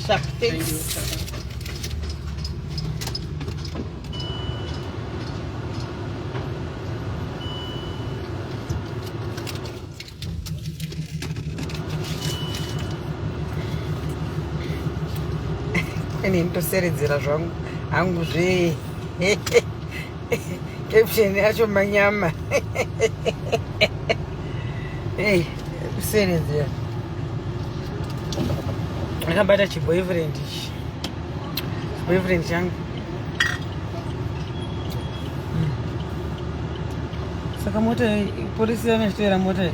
Sharp, thanks. ini nditoseredzera zvangu hangu zvee caption yacho manyama hey, kuseredzera akabata chiboyfriend ichi chiboyfriend changu hmm. saka mota polisi yanochitevera mota iyi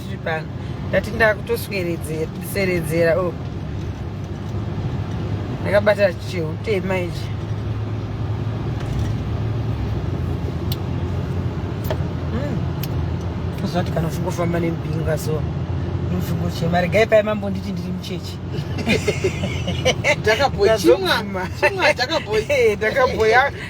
tiri pano ndati ndakutosweredzera oh. ndakabata chehutema ichi hmm. zvinoti kana uchingofamba nemubinga so mupfimbo chema regai paye mambo nditi ndiri muchechi ndakabhoya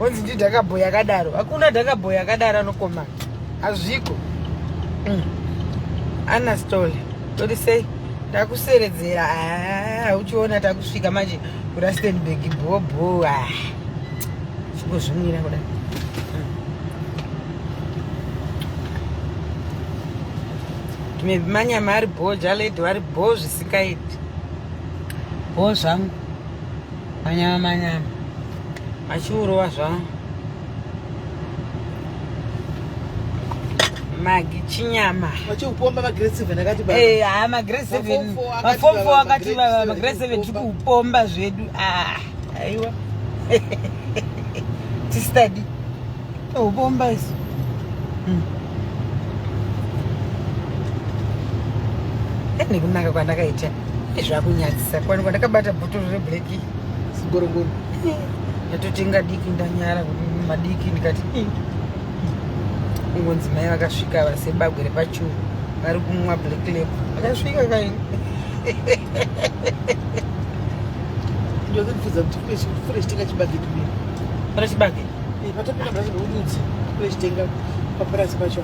Onzi ndi dhakabhoy yakadaro. Hakuna dhakabhoy yakadaro anokoma. Hazviko. Mm. Ana story. Toti sei? Takuseredzera. Ah, uchiona takusvika manje ku Rustenburg bho bho. Ah. Siko zvimira kuda. Mm. Tume manyama ari bho, jaledi ari bho zvisikaiti. Bho zvangu. Manyama manyama. Achiurova zvawo. Magi chinyama. Vachikupomba magrade 7 akati baba. Eh, ah magrade 7. Maform 4 akati baba magrade 7 tikupomba zvedu. Ah, aiwa. Tistadi. Oh, bomba isso. Hum. É, nego, não é que eu zvakunyadzisa kwani kwandakabata bhotoro reblack sigorogoro ndatotenga diki ndanyara kuti madiki ndikati kungonzi mai vakasvika vasebagwe repachuru vari kumwa black lab vakasvika kaini ndozvibvunza kuti kule kule chitenga chibage kule pane chibage eh, patopinda bhazi rokudzi kule chitenga papurazi pacho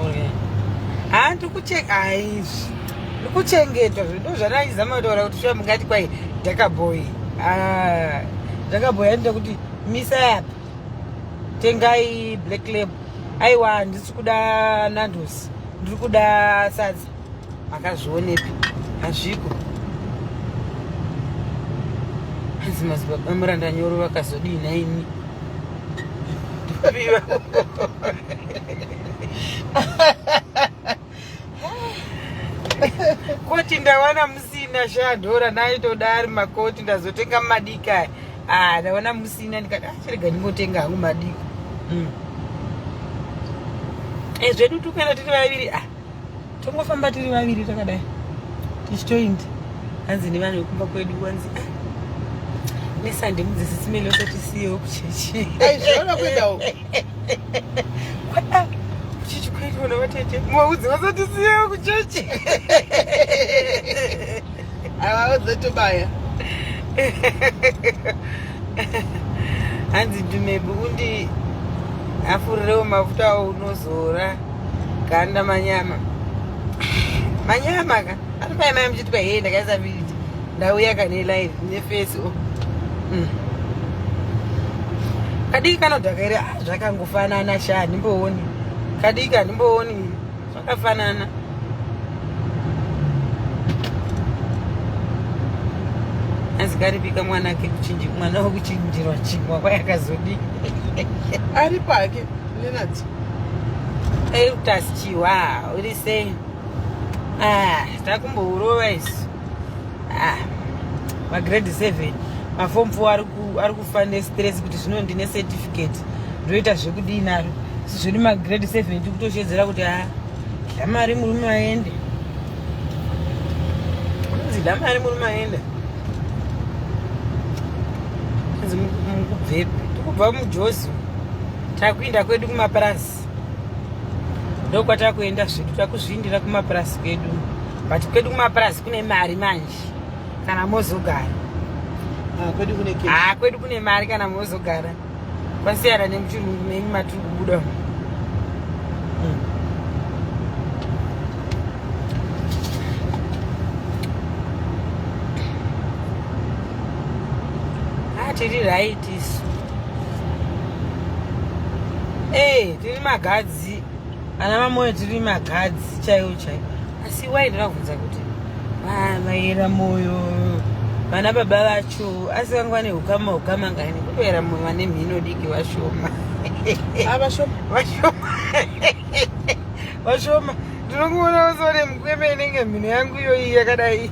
okay ha ndikucheka haizvi kuchengetwa zvedu zvanaizama kutaura kuti shuwa mungati kwai dhakabhoyi ah, dhakabhoyi anoita kuti misai apa tengai black lab aiwa handisi kuda nandos ndiri kuda sadza makazvionepi hazviko hanzi mazibaba muranda nyoro vakazodii naini koti ndawana musina shadhora naitoda ari makoti ndazotenga mumadiki aya ah, ndawana musina ndikati achirega ah, ndingotenga hangu madiki mm. e zvedu tukaenda tiri vaviri ah, tongofamba tiri vaviri takadai tichitoindi hanzi nevanhu vekumba kwedu wanzi ah, nesande mudzidzisi mele usatisiyewo kuchechi kuchechi kwaitwa navatete muvaudzi vasatisiyewo kuchechi avaudze tobaya hanzi dumebu undi afurirewo mafuta awo unozora ganda manyama manyama ka ari paimai muchitwa hee ndakaisa vidi ndauya kane live nefesi o oh. mm. kadiki kanodhaka iri ah, zvakangofanana sha handimbooni kadiki handimbooni zvakafanana asi karipika mwana ake kuchinji mwana wekuchinjirwa chingwa kwayakazodii ari pake lenard eutasichiwa uri sei ah, takumbourova isu ah, magrade 7 mafom fo ari kufa nestress kuti zvino ndine certificate ndoita zvekudii naro si zviri magrade 7 tiri kutoshedzera kuti a ah, damari murume aende anzi damari murume aende anzi mukubvepi tikubva mujozi takuinda kwedu kumapurasi mapurasi ndokwatakuenda zvedu takuzviindira kumapurasi kwedu but kwedu kumapurasi kune mari manje kana mozogara ah, ah, kwedu kune mari kana mozogara kwasiyana nemuchirungu menyu matiri kubuda hmm. ah, tiri right tisu hey, eh, tiri magadzi ana mamoyo tiri magadzi chaiwo chaiwo asi wai ndinabvunza kuti vaera moyo vana baba vacho asi vanga vane ukama ukama ngani kutoera moyo vane mhino diki vashoma ah, vashoma vashoma ndinokuona usone mukweme inenge mhino yangu iyoyi yakadai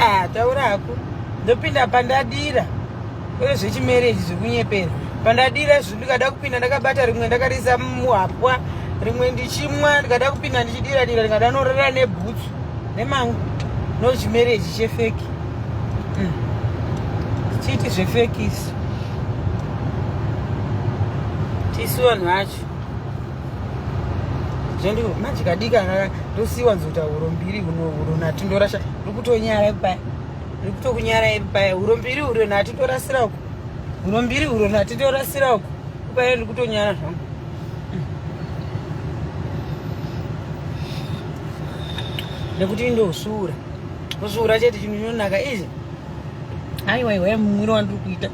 ah, taura hako ndopinda pandadira kwete zvechimereji zvekunyepera pandadira izvi ndikada kupinda ndakabata rimwe ndakariisa muhapwa rimwe ndichimwa ndikada kupinda ndichidira dira ndikada norera nebhutsu nemangu nochimereji chefeki mm. chiiti zvefeki isu tisu vanhu vacho zvende manje kadika kaka tosiwa nzota huro mbiri huno huro nati ndorasha ndikutonyara paya ndikutokunyara paya huro mbiri huro nati ndorasira uko huro mbiri huro nati ndorasira uko paya ndikutonyara zvangu nekuti ndosvuura kusvuura chete chinhu chinonaka izvi aiwa iwe mwiri wandiri kuita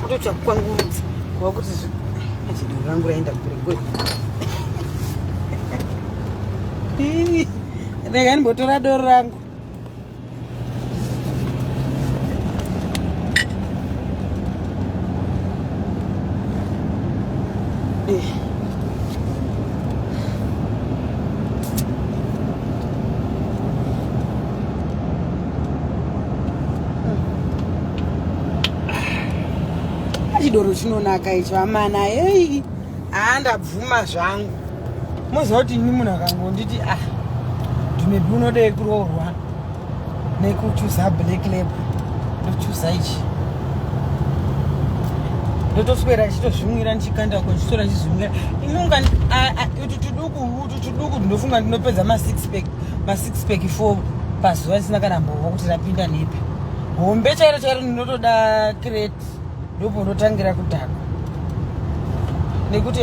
Kutoita kukwangurudza kuva kuti zvichidoro rangu raenda kure kure. Rega ndimbotora doro rangu. Yeah. chidoro chinonaka icho amana hei haa ndabvuma zvangu moziva kuti ini munhu akangonditi ah ndimebi unodei kuroorwa nekuchuza black lab ndochuza ichi ndotoswera chitozvimwira ndichikanda ko chitora chizvimwira inonga utu tuduku utu tuduku ndinofunga ndinopedza masix pack ma six pack four pazuva risina kana mbovo kuti rapinda nepi hombe chairo chairo ndinotoda crate ndobvo ndotangira kudhaka nekuti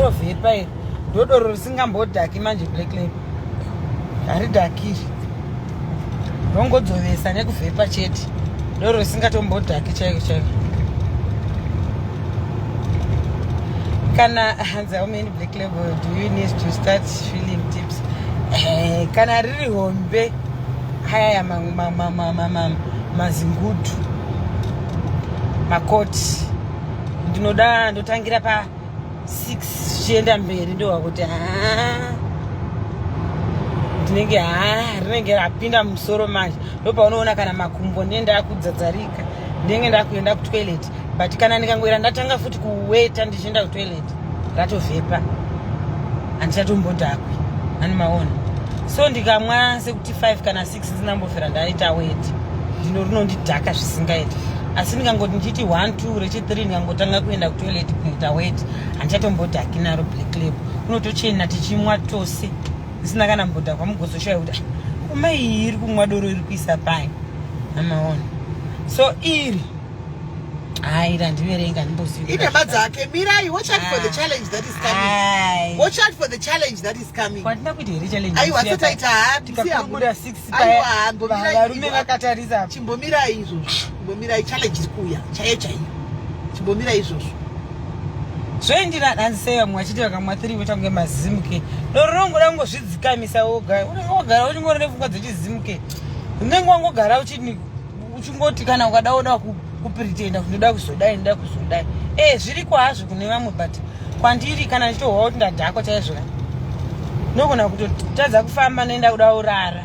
rovhepa iri ndodoro risingambodhaki manje black lab haridhakiri rongodzovesa nekuvhepa chete doro risingatombodhaki chaiko chaiko kana hanzi aumeni Black label, do you need to start feeling tips? Eh, kana riri hombe haya mazingudu makoti ndinoda ndotangira pa 6 zvichienda mberi ndowa kuti haa ndinenge haa rinenge rapinda musoro manje ndopaunoona kana makumbo ndee ndakudzadzarika ndinenge ndakuenda kutoilet but kana ndikangoera ndatanga futi kuweta ndichienda kutoilet ratovhepa handichatombodhakwi ani maona so ndikamwa sekuti 5 kana 6 ndinambofera ndaita weti ndino rinondidhaka zvisingaiti asi ndikangoti ndichiti 1 2 rechi3 ndikangotanga kuenda kutoilet kunoita weti handichatombodhaki naro black lab unotochena tichimwa tose ndisina kana mbodhakwa mugozoshaya kuti kumai iri kumwa doro iri kuisa pai amaona so iri Hai randiverenga ndimboziva. Ine badzake mirai watch out for the ah. challenge that is coming. Hai. Watch out for the challenge that is coming. Kwatina kuti here challenge. Ayi wasa taita hapi si hapo. Kura 6 paya. Ayi mirai. Varume vakatarisa hapo. Chimbomira izvo. Chimbomira challenge kuya. Chaye chaye. Chimbomira izvo. Zvoendira danzi sei vamwe vachiti vakamwa 3 voita kunge mazimuke. Doro rongoda kungozvidzikamisa woga. Unenge wogara uchingorere pfungwa dzechizimuke. Unenge wangogara uchini uchingoti kana ukada oda kupretenda kuti ndoda kuzodai ndoda kuzodai e zviri kwazvo kune vamwe but kwandiri kana ndichitohwa kuti ndadhakwa chaizvo ka ndogona kutotadza kufamba ndoenda kuda urara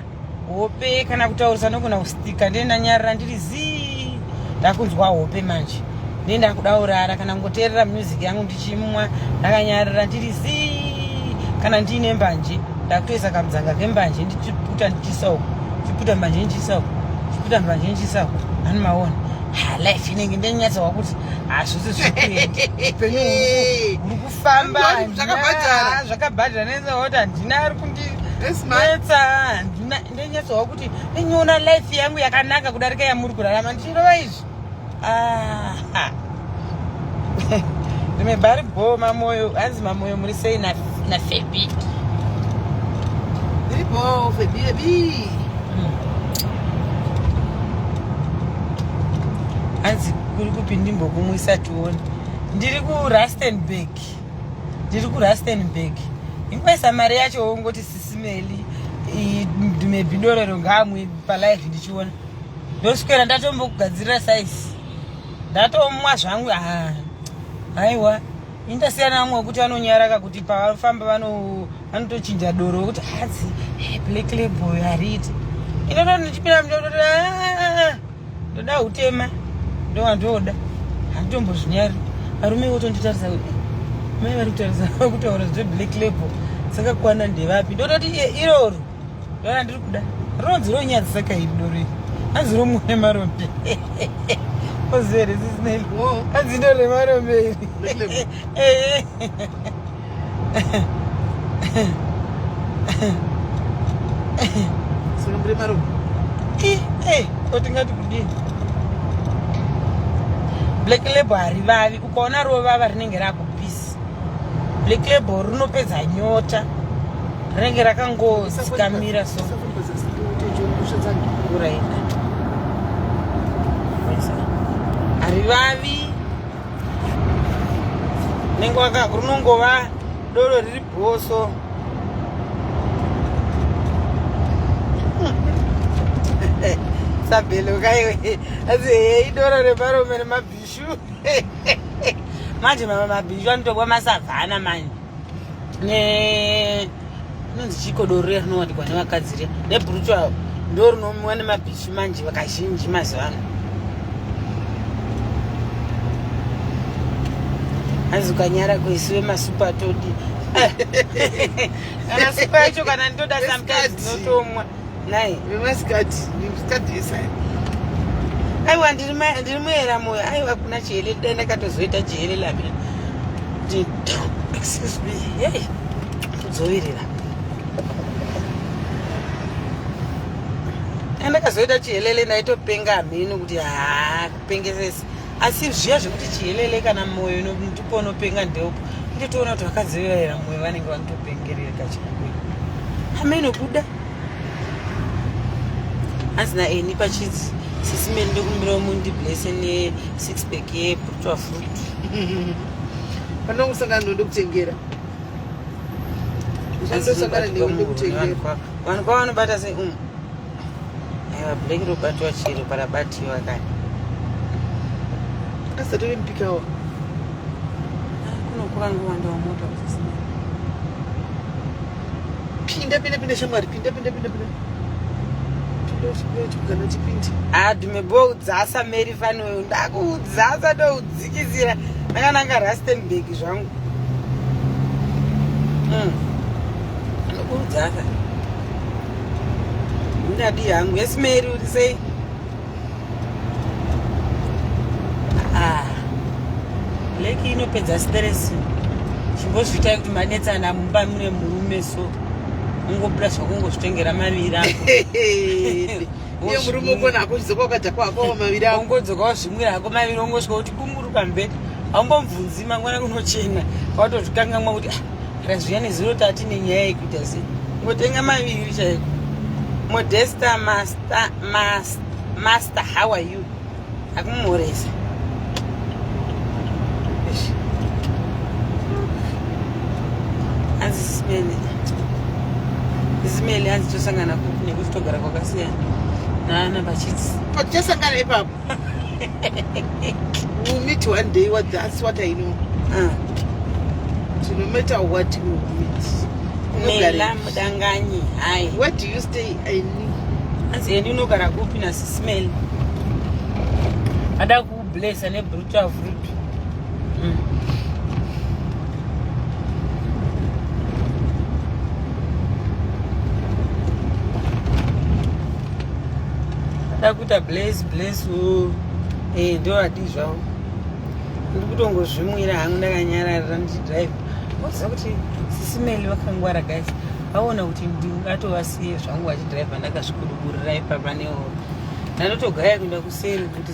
hope kana kutaurisa ndogona kustika ndoenda nyarira ndiri zii ndakunzwa hope manje ndoenda kuda urara kana kungoteerera music yangu chimwa ndakanyarira ndiri zii kana ndiine mbanje ndakutoisa kamudzanga kembanje ndichiputa ndichiisa uku ndichiputa mbanje ndichiisa uku ndichiputa mbanje ndichiisa uku ani maona life inenge ndenyatsawa kuti hazvisi zvikuupenyu huri kufamba zvakabhadhara nenzaoti handina ari kundinetsa handina ndenyatsawa kuti ndenyona life yangu yakanaka kudarika yamuri kurarama ndichirova izvi Ah, rime bari bho mamoyo hanzi mamoyo muri sei nafebi iri bho febi ebi hmm. hanzi kuri kupi ndimbokumwisa tione ndiri kurastenburg ndiri kurastenburg ingoisa mari yacho wongoti sisimeli mebhidorero ngaamwe palive ndichiona ndoswera ndatombokugadzirira saisi ndatomwa zvangu ah, haiwa indasiyana vamwe wekuti vanonyaraka kuti pavafamba vanotochinja doro wekuti hadzi ah, eh, black label hariti inoto ndichipinda mndotoda ah, ndoda utema ndowandoda handitombozvinyari varume votonditarisa kuti eh, mai vari kutaura zveblack label dzakakwana ndevapi ndototi iroro Vana ndiri kuda. Ronzi ronyadzi saka iri dore. Hanzi romu nemarombe. Ozere zisineli. Hanzi ndo remarombe iri. Eh. Sino mbre marombe. Eh, eh, otingati kudini? Black label harivavi ukaona rovava rinenge rako Black label rinopedza nyota rinenge rakangodzikamira so uraina harivavi nenge waka runongova doro riri bhoso sabhelo kaiwe asi hei doro reparume remabhi manje mama mabhinju anotokwa masavhana manje ne inonzi chikodoro riya rinowanikwa nevakadzi riya nebrutu avo ndo rinomiwa nemabhichi manje vakazhinji mazuva ano hanzi ukanyara kuisiwe masupa todi kana supa yacho kana ndoda sometimes notomwa Nai. Vemasikati, vemasikati yesai. Aiwa ndiri ndiri muera moyo. Aiwa kuna chihele dai ndakatozoita chihele lamina. Excuse me. Hey. Kudzovirira. Ndakazoita chihelele ndaitopenga mhini kuti haa pengesesi asi zviya zvekuti chihelele kana moyo ndipo unopenga ndeupo nditoona kuti vakadzi vevaera moyo vanenge vanotopengerera kachikuru ameno kuda hanzi naeni pachidzi sisi mene ndokumbirawo mundiblese nesix pack yebrutwa fruit panokusangana ndode kutengera vanhu kwava vanobata sei um Aiwa black robatwa chiro parabatiwa kani. Asati vempikawo. Kunokura ngowanda wamota kusisina. Pinda pinda pinda shamwari pinda pinda pinda pinda. adumeboudzasa mary fanoyo ndakuudzasa ndoudzikisira ndakananga rustenburg zvangu mm. anokuudzasa ndadii hangu yes mary uri sei ah, leki inopedza stress chimbozviitai kuti manetsana mumba mune murume so ungobuda zvakungozvitengera maviri ako iye murume ukona hako uchidzoka ukadya kwako maviri ako ungodzoka wazvimwira hako maviri ungosvika kuti kunguruka mberi haumbomvunzi mangwana kunochena watozvikangamwa kuti ah, kana zviya nezuro tati nenyaya yekuita sei ngotenga maviri chaiko modesta master, master, master how are you akumhoresa hanzi simene simene hanzi tosangana kupi nekuti togara kwakasiyana naana pachitsi tosangana ipapo we'll meet one day what that's what i know uh. so no matter what we will meet mela mudanganyi hai where do you stay i knew anzi yeni unogara kupi nasismel ada kublesa nebrutal fruit dakuita blaze blaze wo eh ndo adi zvawo ndiri kutongozvimwira hangu ndakanyarara ndichidrive waziva kuti sisimeli vakangwara guys vaona kuti ndingatovasiye zvangu vachidrive ndakazvikuduburira ipapa newo ndanotogaya kuenda kuseri kuti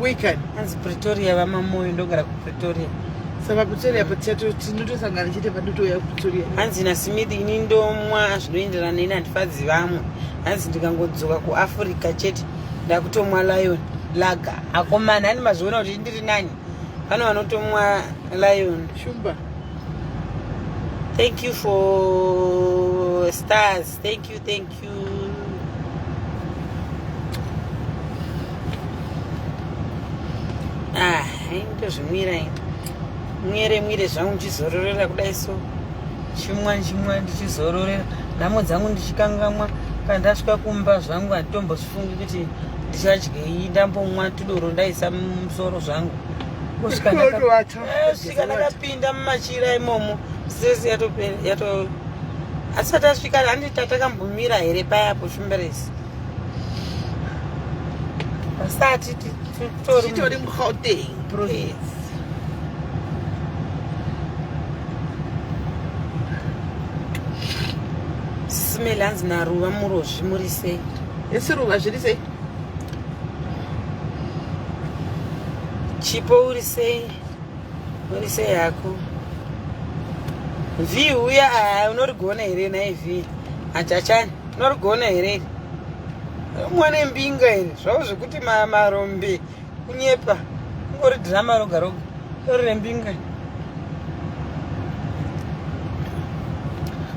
Weekend. Hanzi Pretoria vamamoyo ndogara kuPretoria. Saka Pretoria pachato tinotosangana chete padotouya kuPretoria. Hanzi naSimidi ini ndomwa zvinoenderana neni handifadzi vamwe. Hanzi ndikangodzoka kuAfrica chete ndakutomwa Lion laga. Akomana ani mazviona kuti ndiri nani. Pane vanotomwa Lion. Shumba. Thank you for stars. Thank you, thank you. ah ndozvimwira mwere mwire zvangu ndichizororera kudai so chimwa chimwa ndichizororera nhamo dzangu ndichikangamwa kana ndasvika kumba zvangu handitombozvifungi kuti ndichadyei ndambomwa tudoro ndaisa musoro zvangu kusvika asvika ndakapinda mumachira imomo sesi yato asati asvika handi tatakambomira here paya po shumberesi asati titori mugauteng province smell hanzi naruva murozvi muri sei esi ruva zviri sei Chipo uri sei? Uri sei hako? Vhi uya aya unorigona here naye vhi? Achachani unorigona here? Mwana mbinga here? Zvavo zvekuti marombe kunyepa ungori drama roga roga uri rembinga.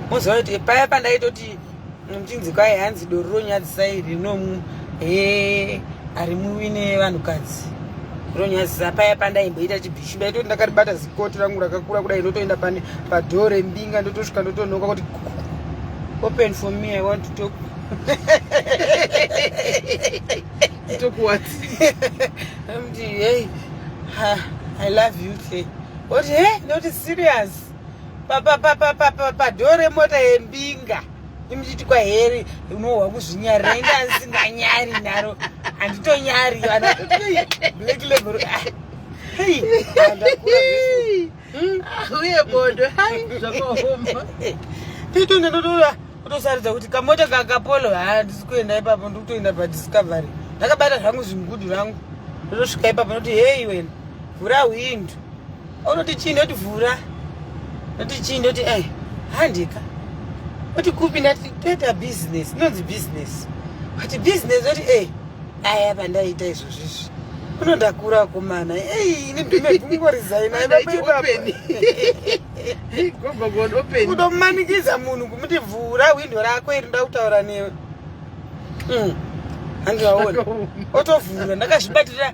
Moziva kuti paya pandaitoti Muchinzi kwaye hanzi doro ronyadzisai rinomu he ari muwine vanhukadzi ronyadzisa paya pandaimboita chibhishi ndaitoti ndakaribata zikoti rangu rakakura kudai ndotoenda pane padhoo rembinga ndotosvika ndotonoka kuti open for me i want to talk talk what mti hey i love you hle oti he ndoti serious padhoo remota yembinga imuchiti kwaheri unohwa kuzvinyarira inga asinganyari naro handitonyari black level ah, hmm? ah, uye bodo hai zvakaoma titonge ndotoda kutosarudza kuti kamota kakapolo haa handisi kuenda ipapo ndikutoenda padiscovery ndakabata zvangu zvimgudu rangu ndotosvika ipapo ndoti heyi wena vhura hwindu Unoti chii ndoti vhura. Ndoti chii ndoti eh handika. Oti kupi ndati toita business, inonzi business. But business oti eh aya pandaita izvozvi izvi. Unoda kura kumana. Eh ini ndime kungo resign ai baba open. Gomba god open. Kudomanikiza munhu kumuti vhura window rako iri ndakutaura newe. Mm. handiwaona otovhura ndakazvibatira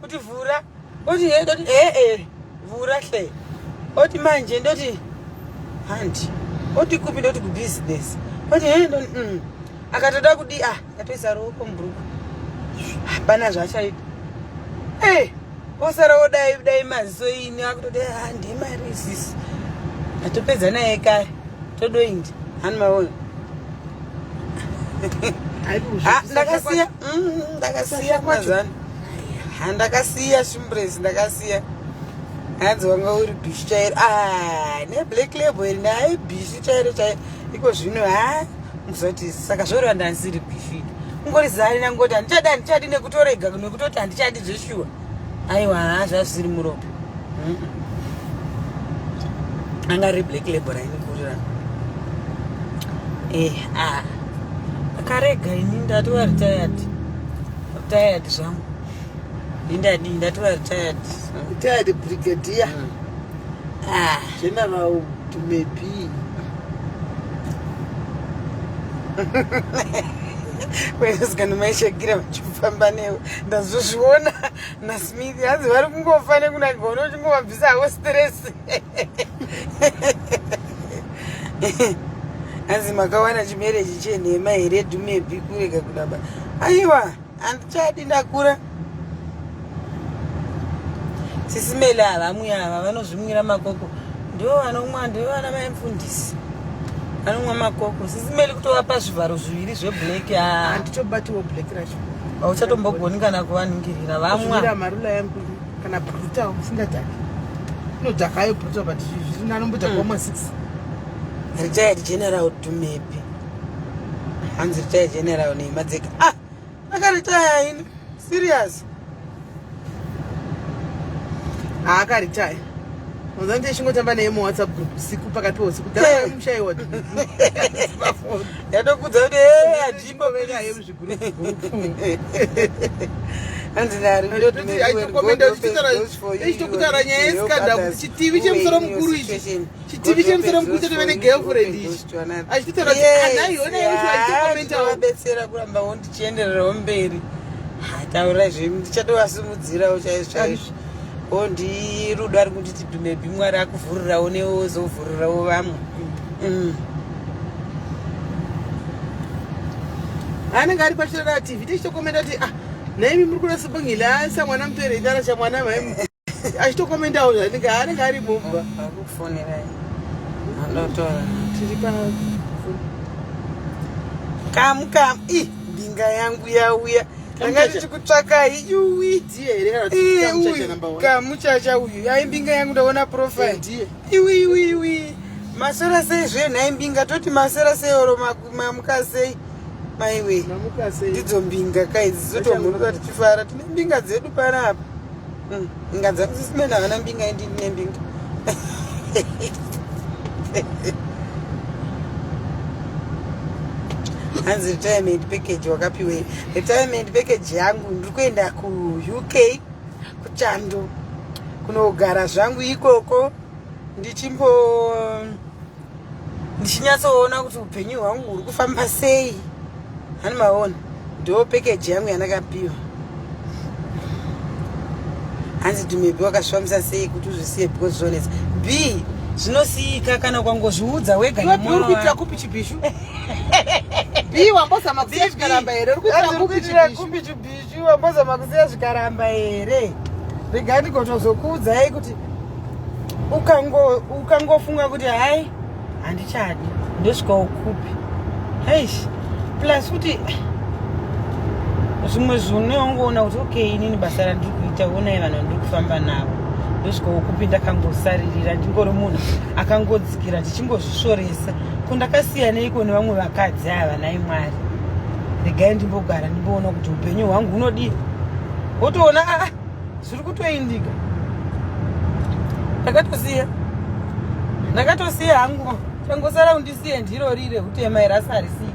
kuti vhura oti he ndoti ee eh, eh, vhura hle oti manje ndoti hanti oti kupi ndoti kubusiness oti he ndo mm. akatoda kudi ah akatoisa ruoko mubhuruku hapana zvaachaita e eh, osara wodai dai maziso ini akutoti ah, ndimari isisi atopedza naye kare todoindi hani maona ah, ndakasiya mm, ndakasiya mazana handakasiya shimbresi ndakasiya hanzi wanga uri bishi chairo ah, neblack label iri naye bishi chairo chairo iko zvino ha muzoti saka zvoreva ndandisiri bishi kungori zari nangoti handichadi handichadi nekutorega nekutoti handichadi zveshuwa aiwa ha zvazvisiri muropa anga ri black label rainikurira eh ah akarega ini ndati waritayati tired zvangu ndindadi ndatora tired tired brigadier mm. ah general to me be kwesikana maishakira vachifamba newe ndazozviona nasmith hanzi vari kungofa nekunaka unochingobvisa havo stress hanzi makawana chimereji chenhema here dhumepi kurega kudaba aiwa handichadi ndakura sisimele havamwi ava vanozvimwira makoko ndivo vanomwa ndivo vana vaimfundisi anomwa makoko sisimeli kutovapa zvivharo zviviri zveblack handitobatiwo black racho hauchatombogoni kana kuvaningirira vamwa kana brutal usingadhaki unodhaka ayo brutal but zviri nanomboita kwamwa mm. six retired general tumepi hanzi retired general neima dzega ah akaritaya ini serious haakaritaya ah, mazani tichingotamba naye muwhatsapp group usiku pakati peusiku daamushayiwa yatokudza kuti eh, adimbo ichitokutaura nyaya yescandal kuti chitivi chemusoro mukuru ichi chitivi chemusoro mukuru chatove negirlfriend ichi achitotaura kuti anaiona yekuaiaabetsera kuramba wondichiendererawo mberi hataurai zve ndichatovasimudzirawo chaizvo chaizvo o ndiyi rudo ari kunditi bhimebi mwari akuvhurirawo neozovhurirawo vamwe mm. anenge ari pachirara tv tichitokomenda kuti ah naimi muri kuda sibongilasa mwana mupere itara chamwana mai achitokomendawo zvanenge anenge ari mumba akufonerai andotora tiri pa kamu kamu i mbinga yangu yauya ndanga ndichikutsvakai yuwi kamuchacha uyu aimbinga yangu ndaona profile iwi iwi iwi masora sei zve nhai mbinga toti masora sei oro mamuka sei maiwe ndidzo mbinga kai dzizotomhurura tichifara tine mbinga dzedu panapa hmm, inga dzakusisimena havana mbinga indi ndine mbinga hanzi retirement package wakapiwei retirement package yangu ndiri kuenda kuuk kuchando kunogara zvangu ikoko ndichimbo ndichinyatsoona kuti upenyu hwangu huri kufamba sei hani maona ndo package yangu yandakapiwa hanzi dhimebi wakazvifambisa sei kuti uzvisiye because zvonetsa b zvinosiyika kana ukangozviudza wega nemwana kuitira kupi chibhishu Bii wambozama kusiya zvikaramba here uri kuita kupichira kupichu bichu wambozama kusiya zvikaramba here rega ndigotozokuudzai kuti ukangofunga ukango kuti hai handichadi ndosvika ukupi eish plus kuti zvimwe zvineongoona kuti okay inini basa randiri kuita onai vanhu vandiri kufamba navo ndosvika ukupi ndakangosaririra ndingori munhu akangodzikira ndichingozvisvoresa kundakasiyaneiko nevamwe vakadzi ava nai mwari regai ndimbogara ndimboona kuti upenyu hwangu hunodii wotoona a ah, zviri kutoindika ndakatosiya ndakatosiya hangu tangosara undisiye ndiro rire utema irasa harisii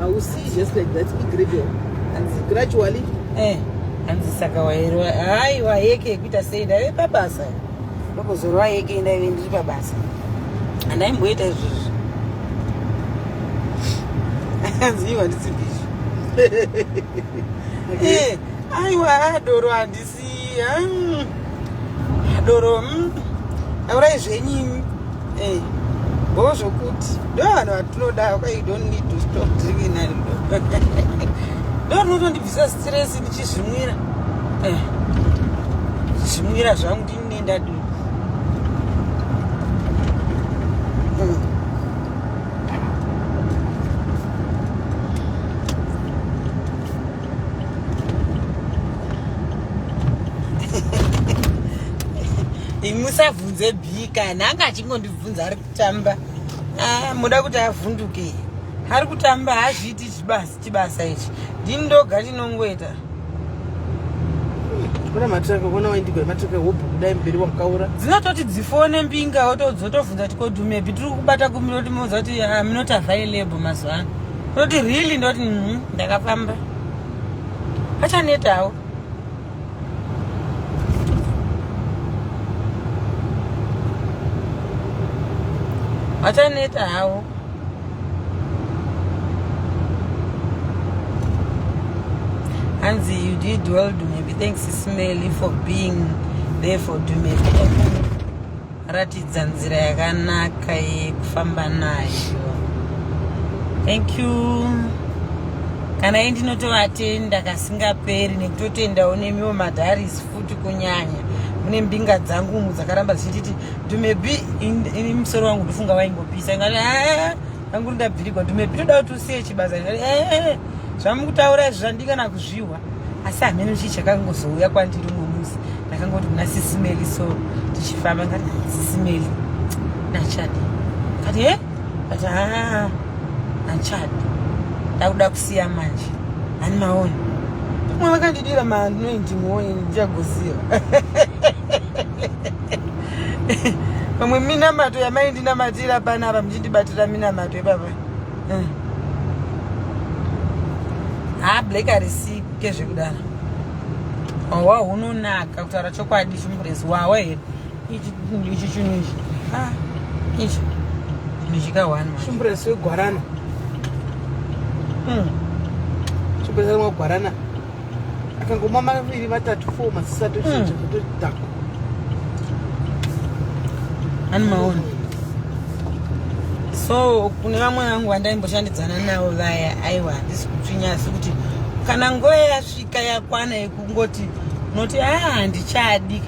hausi just like that igradual hanzi gradually eh hanzi saka wairwa hayi wayeke yekuita sei ndaive pabasa ndokozorwa yeke ndaive ndiri pabasa handaimboita izvozvo hanzi iwa ndisibizvo aiwa adoro handisi Mm. doro mm. aurai zvenyimi eh, bo zvokuti ndo vanhu vatinoda okay, you don't need to stop drinking ndo rinotondibvisa stress ndichizvimwira eh, zvimwira zvangu ndinine ndadi mm. imusabvunze bika nanga achingondibvunza ari kutamba ah, muda kuti avhunduke ari kutamba hazviiti chibasa ichi ndini ndoga ndinongoita kuna matiraka kuona waindigwa matiraka hobho kudai mberi wakaura dzinototi dzifone mbinga wotodzotovhunza tikodhumepi tiri kubata kumiro timoza kuti ah, minoti available mazuva ano unoti really ndoti mm, ndakafamba achanetawo achaneta hawo hanzi you did well dumebi thanks smelly for being there for dumebi ratidza nzira yakanaka yekufamba nayo thank you kana iyi ndinotovatenda kasingaperi nekutotendawo nemiwo madharis futi kunyanya mune mbinga dzangu umu dzakaramba dzichititi to maybe in, in musoro wangu ndofunga waingopisa ingati Tangu ndabvirigwa ndume pitoda kuti usiye chibasa eh, eh, eh. zvamukutaura izvo zvandingana kuzvihwa asi hameno chii chakangozouya kwandiri umwe musi ndakangoti kuna sisimeli so tichifamba ngati sisimeli nachadi kati e kati haa nachadi ndakuda kusiya manje ani maoni pamwe vakandidira manoindi moyi ndichagoziva pamwe minamato yamaindinamatira panapa ndibatira minamato ipapa hmm. ha black arisike zvekudaro hwa hunonaka kutaura chokwadi chimurezi wawa here ichi chinhu ichi ah, ichi chinhu chikahwana chimurezi wegwarana hmm. chimurezi wegwarana akangomwa maviri vatatu four masisa tochinja mm. totodhako ani maona so kune vamwe vangu vandaimboshandidzana navo vaya aiwa handisi kutsvinya asi kuti kana nguva yasvika yakwana yekungoti unoti aa ah, handichadi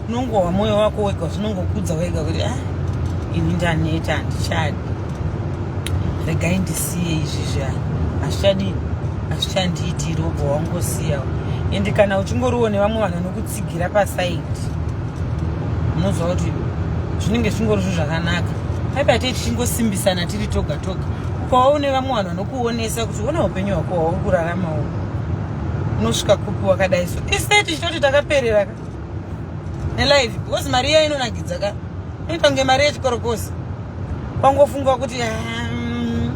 unongohwa moyo wako wega zvinongokudza wega kuti ah, ini ndaneta handichadi regai ndisiye izvi zviyani hazvichadii hazvichandiitiri obva wangosiyawo ende kana uchingoriwo nevamwe vanhu vanokutsigira pasaidi unoziva kuti zvinenge zvingori zvo zvakanaka paipa tei tichingosimbisana tiri toga toga ukawa une vamwe vanhu vanokuonesa kuti ona upenyu hwako hwauri kuraramawo unosvika kupi wakadai so isai tichitoti takapereraka nelife because mari iya inonakidza ka inoita kunge mari yechikorokosi kwangofunga kuti um,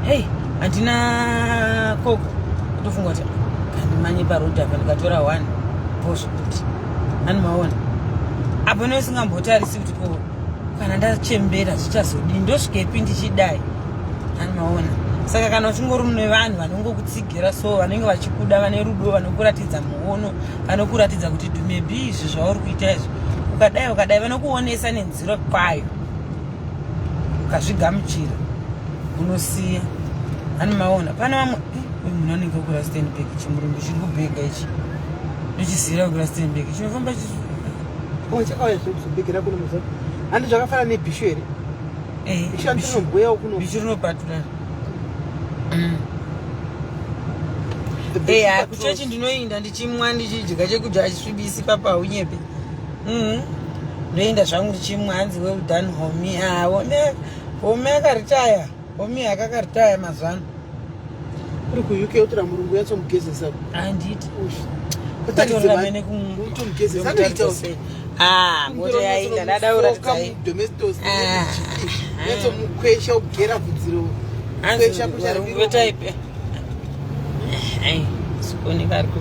hey handina koko kutofunga kuti handimanye parodi apa ndikatora one posvo kuti handimaona apo ine usingambotarisi kuti ko kana ndachembera zvichazodii ndosvikepi ndichidai handimaona saka kana uchingori mune vanhu vanongokutsigira so vanenge vachikuda vane rudo vanokuratidza muono vanokuratidza kuti maybe izvi zvauri kuita izvi ukadai ukadai vanokuonesa nenziro kwayo ukazvigamuchira unosiya ani maona pane vamwe eh, uyu munhu anenge kura stenbek chimurungu chiri kubhega ichi ndochisiyira kura stenbek chinofamba handi zvakafanana nebhishu here eh, bishu rinopaturana mm. hey, eh, kuchechi ndinoinda ndichimwa ndichidya chekudya achisvibisi papa unyepe mm. ndoenda zvangu ndichimwa hanzi well done homi ah, homi akaritaya homi akakaritaya mazuva ano uri kuuk yotora murungu yatsomugezesa anditi utomugezesa anoita Ah, mota yaita ndada kuratidzai. Ah. Netso mukwesha kugera bvudziro. Kwesha kushara biro. Weta ipe. Ai, sikoni kari ku.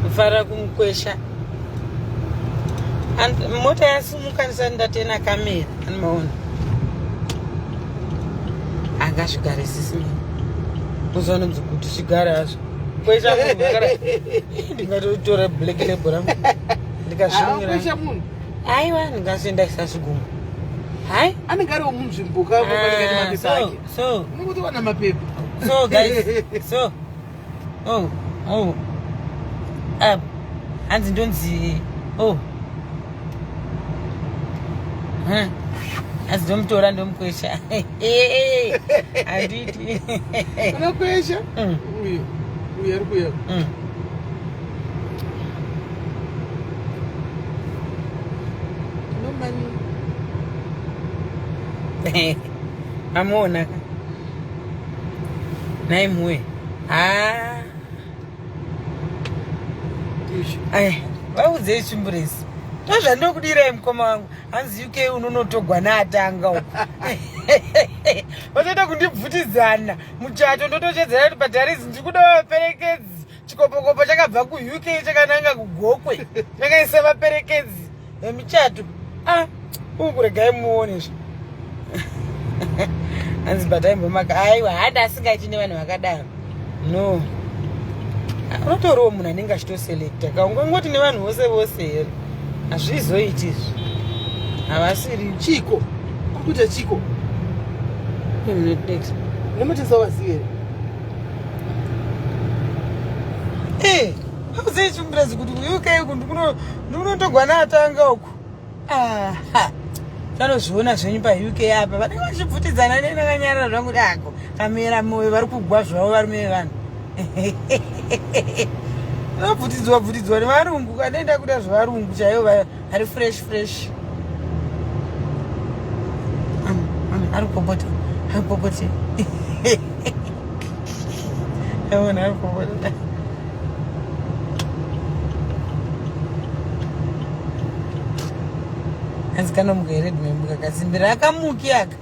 Kufara kumkwesha. And mota yasimuka ndisati ndatena kamera. Anomaona. Angasvigare sisi mimi. Uzoona kuti zvigare hazvo. Kwesha kugara. Ndingatotora black label rangu. ndikazvinyira munhu aiwa ndingazoenda isa zvigumo hai anenge ari womunzvimbo kaoaemapepa ah, ake so unoti wana mapepa so guys so oh oh um hanzi ndonzi oh hmm. asi ndomutora ndomukwesha handiti unokwesha hmm. uyo uyo ari kuya hmm. amuona ka nhai muwe haa aya vaudzei chimburesi ndozvandokudirai mukoma wangu hanzi uk unonotogwa naatanga uko vatoita kundibvutidzana muchato ndotochedzera kuti padharizi ndikuda vaperekedzi chikopokopo chakabva kuuk chakananga kugokwe chakaisa vaperekedzi vemuchato ah uu kuregai muonesva hanzi bhataimbomaka aiwa hada asingaiti nevanhu vakadaro no unotoriwo munhu anenge achitoselekta ka ungangoti nevanhu vose vose here hazvizoiti izvi havasiri chiko kukuita chiko nematesa wasiere Hey, hauzei chimurazi kuti UK uku ndikunotogwa naatanga uku. Aha. Tanozviona zvenyu pa UK apa. Vanenge vachibvutidzana neni vakanyarara zvangu kuti ako kamera moyo vari kugwa zvavo varume vevanhu. Vabvutidzwa bvutidzwa nevarungu kanoenda kuda zvevarungu chaivo ari fresh fresh ari kupopota ari kupopote aona ari kupopota hanzi kanomuka here dhimembuka kasimbira akamuki aka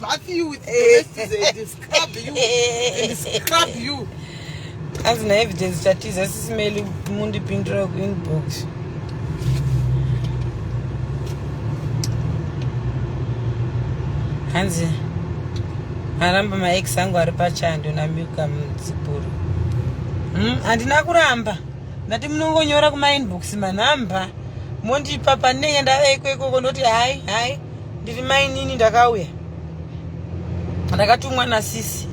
bath you with and scrub you and scrub you hanzi naevidence chatiza sisimeli mundipindura kuinbox hanzi aramba maex angu ari pachando namiuka mudzipuro hmm, handina mm, kuramba ndati munongonyora kumainbox manhamba mondipa panenge ndave ikwekweko ndoti hai hai ndiri mainini ndakauya ndakatumwa nasisi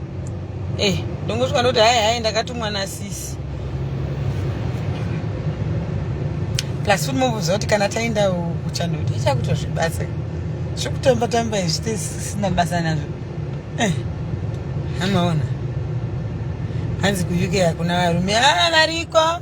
eh ndongosvika ndoti hai hai ndakatumwa nasisi plus futi mobuza kuti kana taenda kuchanoti ichakutozvibasa zvekutamba tamba izvi tisina basa nazvo eh amaona hanzi kuuk hakuna varume aa ah, variko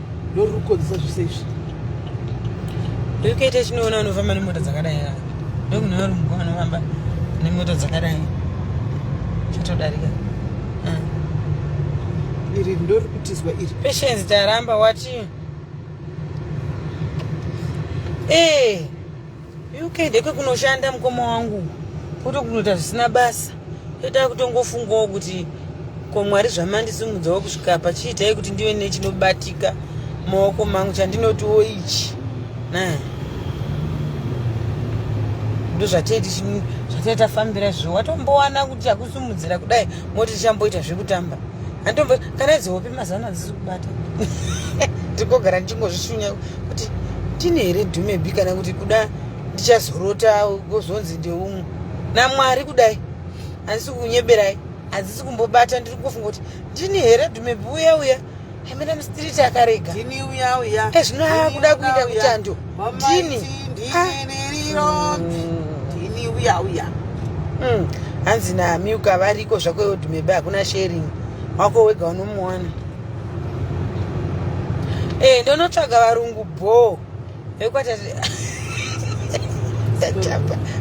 Ndori kukonzesa zvese izvi. Ndikuita chinoona unofamba nemota dzakadai haa. Ndokune varungu vanofamba nemota dzakadai. Chatodarika. Ah. Iri ndori kutizwa iri. Patience taramba wati. Eh. Hey. UK ndekwe kunoshanda mukoma wangu kuto kunoita zvisina basa toita kutongofungawo kuti ko mwari zvamandisimudzawo kusvika pachiitai kuti ndive nechinobatika maoko mangu chandinotiwo ichi ndozvataitafambira zvo watombowana kuti takusimudzira kudai moti tichamboita zvekutamba kana idzo hope mazano hadzisi kubata ndikogara ndichingozvishunya kuti ndine here dhumebi kana kuti kuda ndichazorota gozonzi ndeumwe namwari kudai handisi kunyeberai hadzisi kumbobata ndiri kungofunga kuti ndini here dhumebi uya uya amene mstiriti akarega ezvino akuda kuita kuchando ndini ndini uya uya hmm. hanzi namiuka variko zvako yodhumebe hakuna sharing wako wega unomuwana e ndonotsvaga varungu bhoo ekwata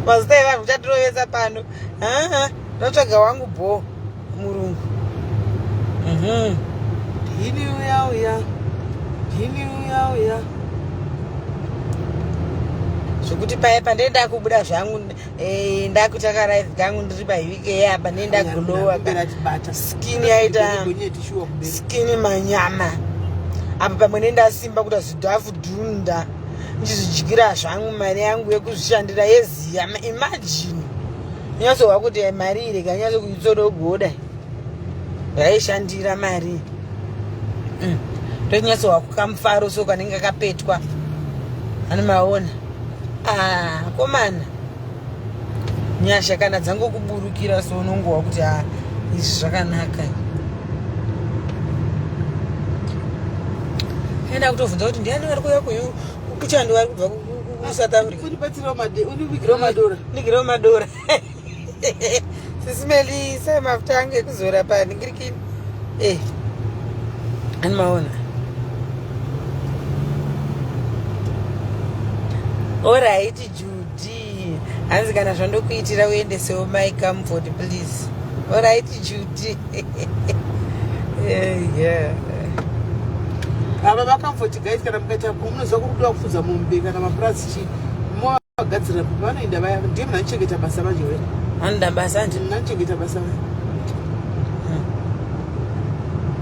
mazita evanhu uchatirovesa pano haa ndotsvaga wangu bho murungu mhm. dhini uya uya dhini uya uya zvekuti paye pandee ndakubuda zvangu eh, ndakuita karive kangu ndiri pahivike apa ndee ndagulowa skini yaita skini manyama apa pamwe nendasimba kuda zvidhafu Dhunda ndizvidyira zvangu mari yangu yekuzvishandira yeziya imagine nyatsohwa kuti mari iri kanyatso kuitsodogoda yaishandira mari mm. ndonyatsohwa kukamufaro so kanenge kapetwa anomaona ah, komana nyasha kana dzangokuburukira so unongowa kuti ha ah, izvi zvakanaka aenda kutovhunza kuti ndiani vari kuuya kuyu kuchando vari kubva kusouth africaundivigirewo madora ndigirewo madora sisimeli sai mafuta angu ekuzora pandingirikini eh ani maona All right. hanzi kana zvandokuitira uendesewo mai comfort please orit judy ava vacomfort guys kana mukaita munoziva kurudiwa kufudza mombe kana mapurazi chii movagadzirira kuti vanoenda vaya ndiye munanichengeta basa manje were anoda basa andi munanichengeta basa vaya hmm.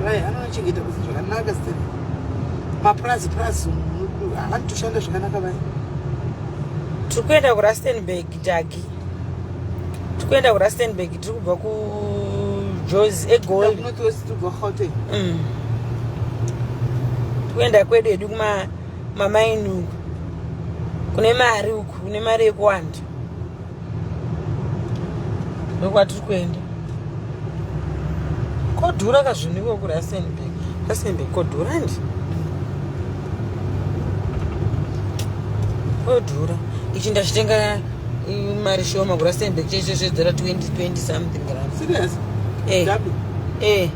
vaya anonachengeta basa zvakanaka sitani mapurazi purazi havani toshanda zvakanaka vaya tiri kuenda kurastenburg dagi tiri kuenda kurastenburg tiri kubva kujozi egold mm. kuenda kwedu hedu kumamaini uku kune mari uku kune mari yekuwanda ndokwatiri kuenda kodhura ka zvinhu iko kurasenbek rasenbek kodhura ndi kodhura ichi ndachitenga mari shoma kurasenbek chese zvedzera 2020 something ran serious eh eh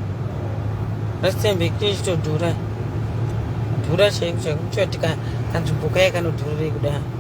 rasenbek chechitodhura dhura chaiko chaiko kuchatika kanzvimbo kaye kanodhururei kudai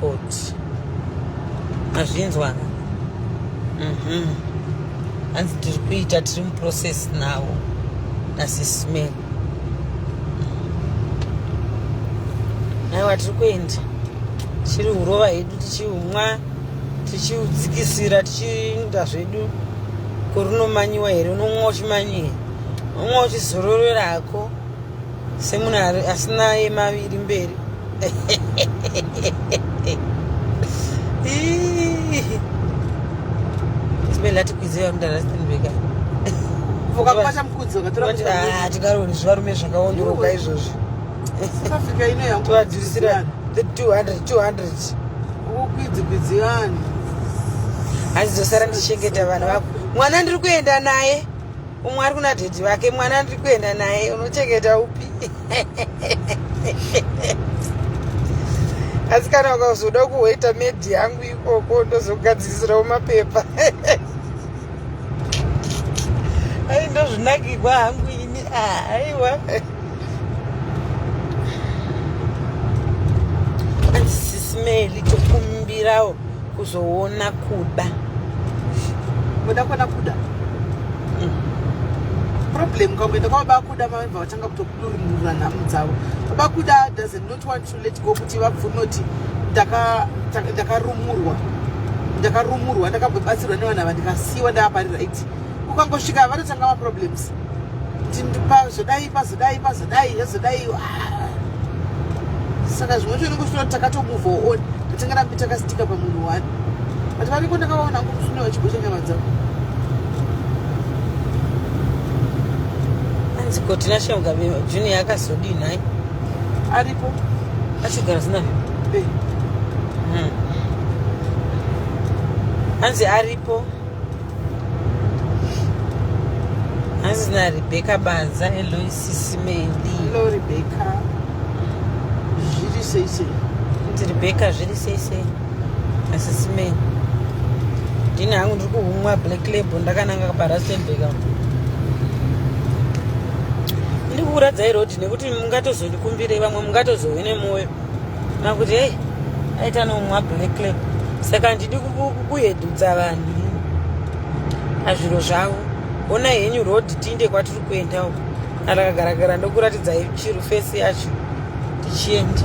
Court. Mazvinzwa. Mhm. Hanzi tiri kuita tiri muprocess now nasisme. Aiwa tiri kuenda. Chiri urova hedu tichiumwa tichiudzikisira tichiinda zvedu korunomanyiwa here unomwa uchimanyira umwe uchizororerako semunhu asina emaviri mberi zimene latikwidzei varume ndarastenbeka tikaroni zvivarume zvakaonoroka izvozvi tivadurisira the 200 200 ukukwidzikwidzi vanhu hanzi dzosara ndichengeta vana vako mwana ndiri kuenda naye umwe ari kuna dhedhi vake mwana ndiri kuenda naye unochengeta upi asi kana ukazoda kuhweta medhi yangu ikoko ndozokugadzirisirawo mapepa ai ndozvinakirwa hangu ini ah, aiwa anzisismeli tokumbirawo kuzoona kuda kuda kwana kuda problem ukangoenda kwababa kuda vamva vatanga kutokudurunura nhamu dzavo baba kuda does not want to let go kuti vabvume kuti ndakarumurwa ndakarumurwa ndakabatsirwa nevanhu ava ndikasiyiwa ndaaparirigt ukangosvika vanotanga maproblems pazodai pazodai pazodai zvazodai ah. saka zvimwe zvacho unenge uchitoona takatomove on tatanga rambi takasitika pamunhu wani but variko ndakavaona ngo musune vachigosha nyama dzavo anzi kotina shemga junior akazodii nhai aripo achigara zina vipi eh. hmm. anzi aripo hanzi narebecca banza eloisisimeli hello rebecca zviri sei sei kuti rebecca zviri sei sei asisimei ndini hangu ndiri kuhumwa black label ndakananga parastenbek ndiri kuuradzai rodi nekuti mungatozondikumbirei vamwe mungatozove nemwoyo makuti hey aita nomwa black lab saka handidi kuhedudza vanhu azviro zvavo ona henyu road tinde kwatiri kuenda uko arakagaragara ndokuratidza chiro fesi yacho tichienda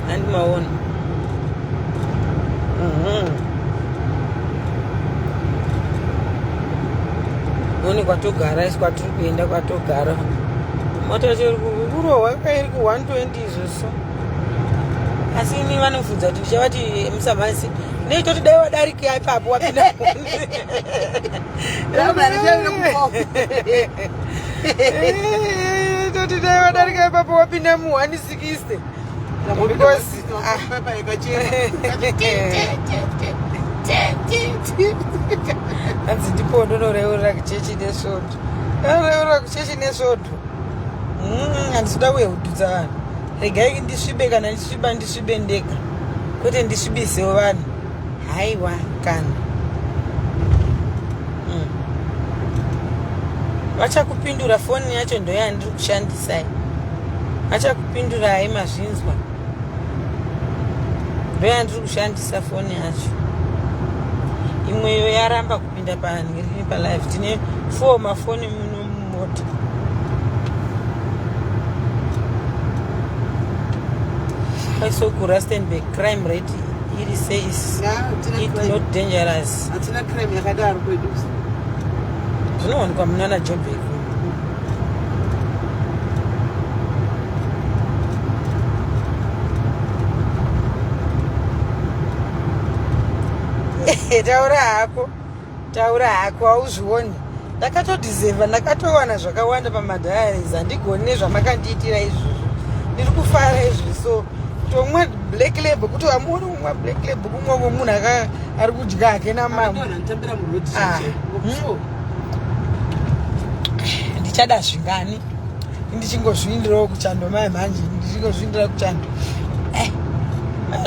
handi maona mhm. one kwatogara isi kwatiri kuenda kwatogara mota chiri kurohwa kairi ku 20 izvozvo asi ini vanofunza kuti ndichavati musamhasi neitoti dai wadarika ipapo wapinda toti dai wadarika ipapo wapinda mu 160 because ah. hanzi ndipo ndonoreurira kichechi nesvoto Arora kuchechi nesvoto. Mm, handisida kuya kududza vanhu. Regai ndisvibe kana ndisviba ndisvibe ndega. Kwete ndisvibisewo vanhu. Haiwa kana. Mm. Vachakupindura foni yacho ndoyandiri kushandisai. Vachakupindurai mazvinzwa. Ndoyandiri kushandisa foni yacho. Imweyo yaramba Pinda pani ngiri pa live tine four mafoni muno mumota. Paiso ku Rustenburg crime rate iri says it not dangerous. Hatina crime yakadaro kwedu. Zvinowanikwa munana Joburg. taura hako taura hako hauzvioni ndakatodizeva ndakatowana zvakawanda pamadiaries handigoni nezvamakandiitira izvozvo ndiri kufara izvi so kutomwa black label kuti hamuoni kumwa black label kumwa ko munhu ari kudya hake namama ah, hmm. ndichada zvingani ndichingozviindirawo kuchando mai manje ndichingozviindira kuchando eh,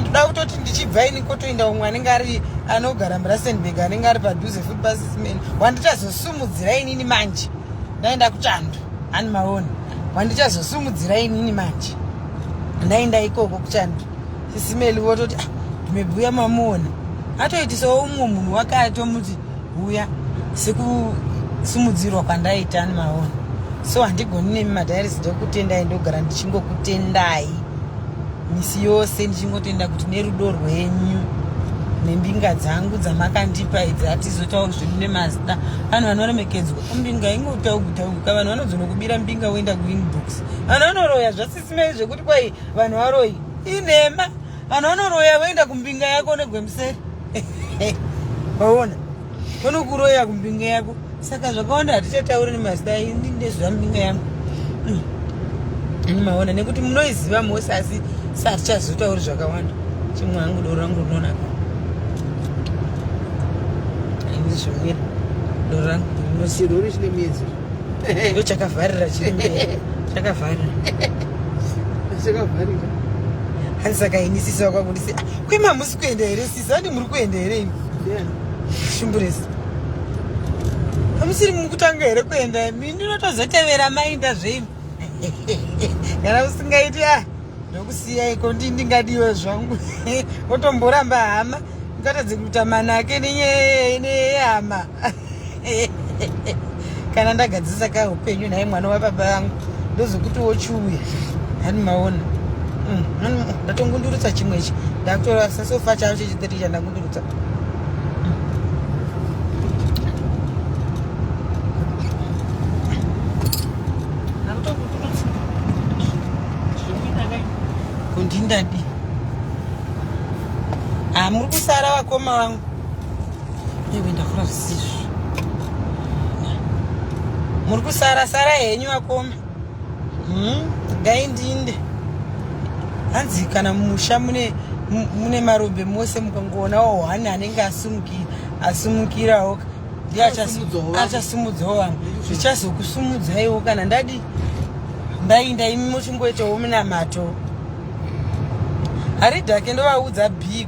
ndoda kutoti ndichibva ini kotoinda umwe anenge ari anogara murasenburg anenge ari padhuze futi pasismen wandichazosumudzira inini manje ndaenda kuchando ani maoni wandichazosumudzira inini manje ndaenda ikoko kuchando sisimeli vototi ah, ndimebhuya mamuona atoitisawo umwe munhu wakatomuti ah, huya sekusumudzirwa kwandaita ani maona so handigoni nemi madhairis ndokutendai ndogara ndichingokutendai misi yose ndichingotenda kuti nerudo rwenyu nembinga dzangu dzamakandipa idzi hatizotauri zvedu nemazita vanhu vanoremekedzwa mbinga ingotaugutauguka vanhu vanozonokubira mbinga woenda kuinbox vanhu vanoroya zvasisimei zvekuti kwai vanhu varoyi inhema Vanhu vanoroya voenda kumbinga yako negwemuseri. Waona? Vanokuroya kumbinga yako. Saka zvakawanda hatichatauri nemazita ini ndezva mbinga yangu. Hmm. Ini maona nekuti munoiziva mose asi satichazotauri zvakawanda. Chimwe hangu doro rangu rinonaka. Ini zvimira. Doro rangu rinonaka. Chirori chine miedzero. ndo chakavharira chiri chakavharira chakavharira hanzi saka ini sisi vakwangu ndisi ah, kwema hamusi kuenda here sisi andi muri kuenda here imi shumburesi hamusiri mukutanga here kuenda imi ndinotozotevera mainda zveimi kana usingaiti a ah, ndokusiyai ko ndi ndingadiwe zvangu otomboramba hama ngatadze kuita manake nenyaya yehama kana ndagadzisa ka upenyu naye mwana wababa vangu ndozokuti wochiuya hani maona mm, mm, ndatongundurutsa chimwe ichi ndakutora sasofa chavo chechitiri chandakundurutsa kundindadi ah, muri kusara vakoma vangu Ewe ndakura zvisizvo. Muri kusara sara henyu vakoma. Hmm, dai ndinde. Hanzi kana musha mune mune marombe mose mukangoonawo one anenge asumukira asumukirawo ndiye achasumudzawo vamwe zvichazokusumudzaiwo kana ndadi ndainda imi muchingoitawo munamato haridhake ndovaudza big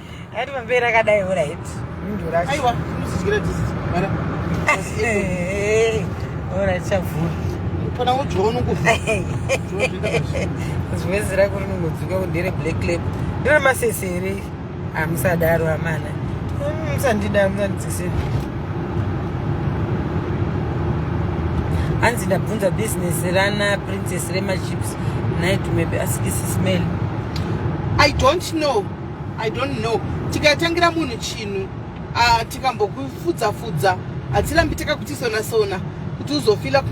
Ari pamberi akadai alright. Ndura. Aiwa, musichikira this. Mara. Alright, chavhura. Pana ujono kufa. Zvezi rako rinongodzuka kundere black lab. Ndore masese here? Amusadaro ah, amana. Hmm, musandida, musandidzisira. hanzi ndabvunza business rana princess remachips night maybe ask isi smell i don't know I don't know tikatangira munhu chinhu uh, tikambokufudza fudza hatirambi takakutisona sona kuti uzofila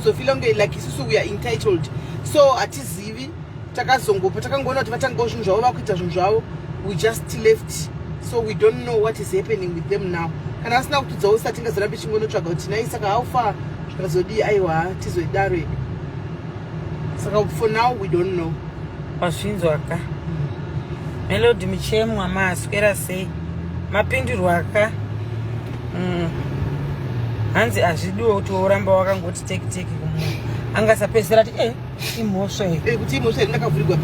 uzofila kunge like isusu we are entitled so hatizivi takazongopa takangoona kuti vatangawo zvinhu zvavo vakuita zvinhu zvavo we just left so we don't know what is happening with them now kana asina kutudzawo sati ngazorambe chingonotsvaga kuti nai saka how far zvakazodii aiwa tizoidaro ii saka for now we don't know wazvinzwa ka melody muchemwa maaswera sei mapindurwa ka mm. hanzi hazvidiwo kuti woramba wakangoti teki teki kumunhu angasapedzisira ati e imhosva yekuti eh, imhosva yei ndakavhurigwa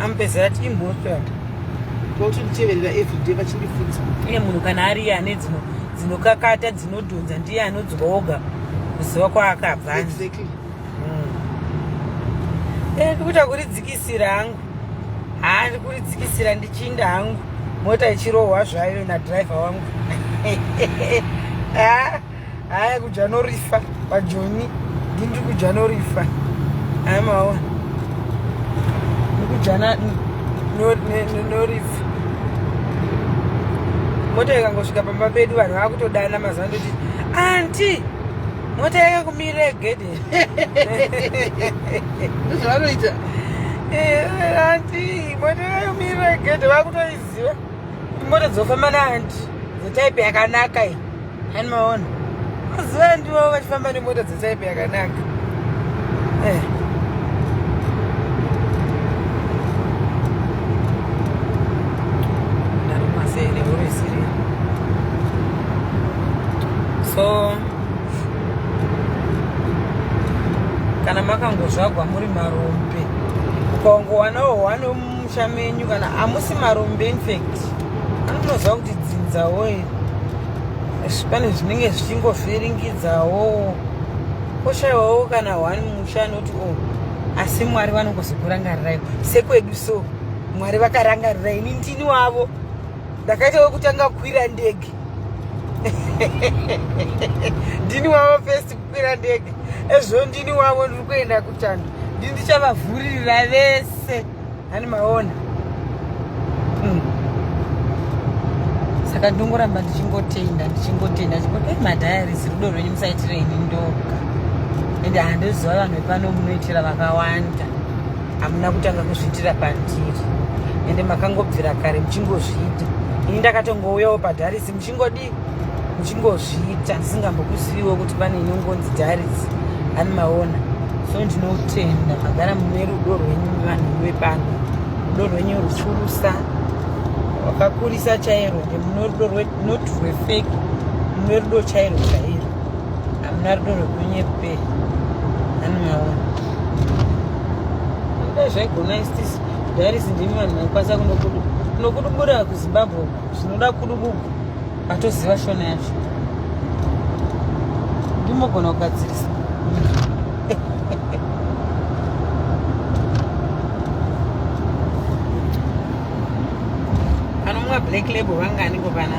amupedzisira ati imhosva yake vautonditeverera everyday vachindifunza iye munhu kana ari iye ane dzinokakata dzinodhonza ndiye anodzwa oga kuziva kwaakabva Eh, kuita kuridzikisira hangu haa ndi kuridzikisira ndichinda hangu mota ichirohwa zvayo nadriver wangu ah, haya kudya norifa pajoni ndi ndiri kudya norifa haya maona ndikudya norifa mota ikangosvika pamba pedu vanhu vakutodana mazuva ndoti anti mota yake kumira egede zvavanoita anti mota yake kumira egede vakutoiziva kuti mota dzofamba naanti dzetaipe yakanaka iyi ani maona maziva andivo vachifamba nemota dzetaipe yakanaka eh. so kana makangozvagwa muri marombe ukaongowanawo hwani wemumusha menyu kana hamusi marombe infact anotoziva kuti dzinzawo pane zvinenge zvichingovhiringidzawo koshaiwawo kana hwani mumusha anoti o oh, asi mwari vanongozokurangarirai sekwedu so mwari vakarangarirai ini ndini wavo ndakaita wekutanga kukwira ndege ndini wavo first kukwira ndege ezvo ndini wavo ndiri kuenda kuchando ndini ndichavavhuririra vese ani maona hmm. saka ndongoramba ndichingotenda ndichingotenda chingoti eh, madhayarisi rudo rwenyu musaitire ini ndoga ende handoziva vanhu vepano munoitira vakawanda hamuna kutanga kuzviitira pandiri ende makangobvira kare muchingozviita ini ndakatongouyawo padharisi muchingodii muchingozviita ndisingambokuziviwo kuti pane inongonzi dharisi ani maona so ndinotenda magara mune rudo rwenyu vanhu vepano rudo rwenyu rufurusa wakakurisa chairo nde mune rudo not rwefeki mune rudo chairo chairo hamuna rudo rwekunyepe ani maona ida zvaigona istisi darisi ndimi vanhu vaikwanisa kunokudu kunokudubura kuzimbabwe zvinoda kudubuku atoziva shona yacho ndimogona kugadzirisa black label vangani kopana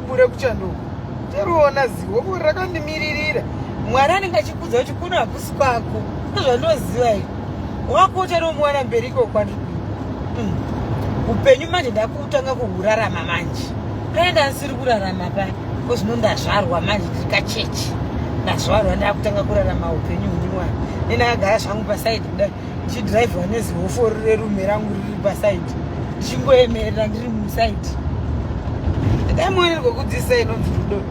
kure kuchanduko toriona zivo kuri rakandimiririra mwari anenge achikudza kuti kuno hakusi kwako ndozvandoziva i wako uchanomwana mberi iko kwandiri hmm. upenyu manje ndakutanga kuhurarama manje paye ndandisiri kurarama paya ko zvino ndazvarwa manje ndiri kachechi ndazvarwa ndakutanga kurarama upenyu huniwana nendakagara zvangu pasaidi kudai ndichidrivha nezihofo rerume rangu riri pasaidi ndichingoemerera ndiri musaidi dai muonerwa kudzisa inonzi rudo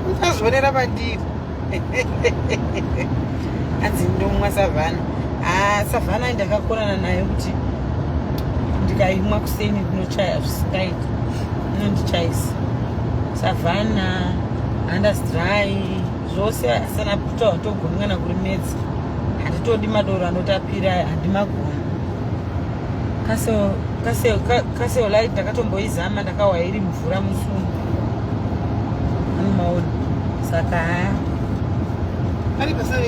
muchazvionera pandiri hanzi ndomwa savhana ah, savhana ndakakonana nayo kuti ndikaimwa kuseni ndinochaya zvisingaiti inondichaisa savhana andasdry zvose asana puta watogonwa na kurimedza Hatitodi madoro anotapira handimagoni. Kaso kaso kaso light ndakatomboizama ndakawa iri mvura musumo. Anomaona. Saka haya. Ari pasave